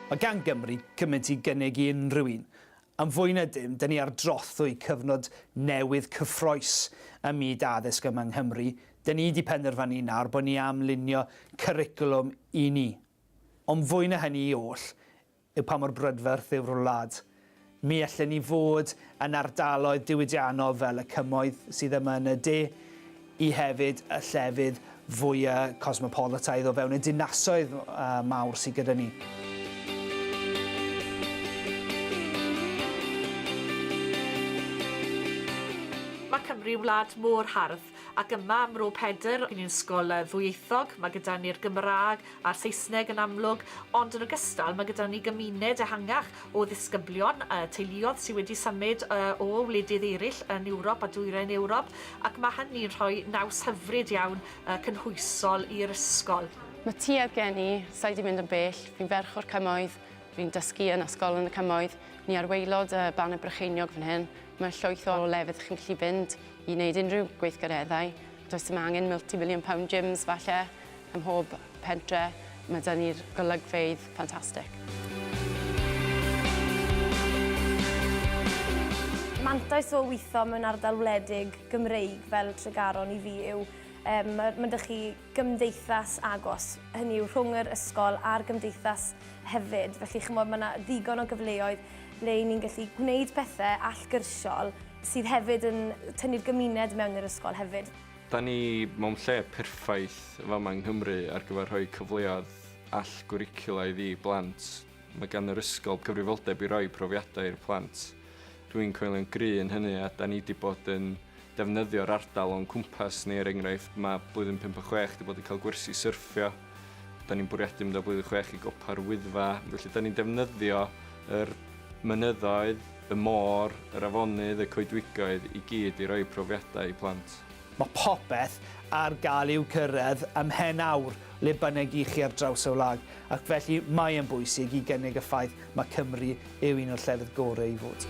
Mae gan Gymru cymaint i gynnig i unrhyw un. Am fwy na dim, dyn ni ar drothwy cyfnod newydd cyffroes ym myd addysg yma yng Nghymru, dyn ni 'di penderfynu nawr bod ni am lunio cyricwlwm i ni. Ond fwy na hynny i oll, yw pa mor brydferth yw'r wlad. Mi allen ni fod yn ardaloedd diwydiannol fel y Cymoedd sydd yma yn y de, i hefyd y llefydd fwya' cosmopolataidd o fewn y dinasoedd mawr sydd gyda ni. Mae Cymru wlad mor hardd, ac yma ym Mro Pedr, yn un ysgol ddwyieithog, mae gyda ni'r Gymraeg a'r Saesneg yn amlwg, ond yn ogystal mae gyda ni gymuned ehangach o ddisgyblion a teuluoedd sydd wedi symud o wledydd eraill yn Ewrop a Dwyrain Ewrop ac mae hynny'n rhoi naws hyfryd iawn cynhwysol i'r ysgol. Mae tuedd gen i, sa i 'di mynd yn bell, fi'n ferch o'r Cymoedd, fi'n dysgu yn ysgol yn y Cymoedd, ni ar waelod y Banner Brycheiniog fan hyn, mae llwyth o lefydd chi'n gallu fynd i wneud unrhyw gweithgareddau, does dim angen multi-million pound gyms falle, Ym mhob pentre mae 'da ni'r golygfeydd ffantastig. Mantais o weithio mewn ardal wledig Gymreig fel Tregaron i fi yw yym ma' ma' 'da chi gymdeithas agos, hynny yw rhwng yr ysgol a'r gymdeithas hefyd, felly ch'mod ma' 'na ddigon o gyfleoedd le 'yn ni'n gallu gwneud pethe allgyrsiol sydd hefyd yn tynnu'r gymuned mewn i'r ysgol hefyd. Da ni mewn lle perffaith fama yng Nghymru ar gyfer rhoi cyfleoedd all-gwricwlaidd i blant. Mae gan yr ysgol gyfrifoldeb i roi profiadau i'r plant. Dw i'n coelio'n gry' yn hynny a da ni 'di bod yn defnyddio'r ardal o'n cwmpas ni, er enghraifft, mae Blwyddyn Pump a Chwech 'di bod yn cael gwersi syrffio, Da ni'n bwriadu mynd o blwyddyn chwech i gopa'r Wyddfa, felly da ni'n defnyddio yr mynyddoedd, y môr, yr afonydd, y coedwigoedd i gyd i roi profiadau i plant. Mae popeth ar gael i'w cyrraedd ym mhen awr le bynnag i chi ar draws y wlad ac felly mae yn bwysig i gynnig y ffaith mae Cymru yw un o'r llefydd gorau i fod.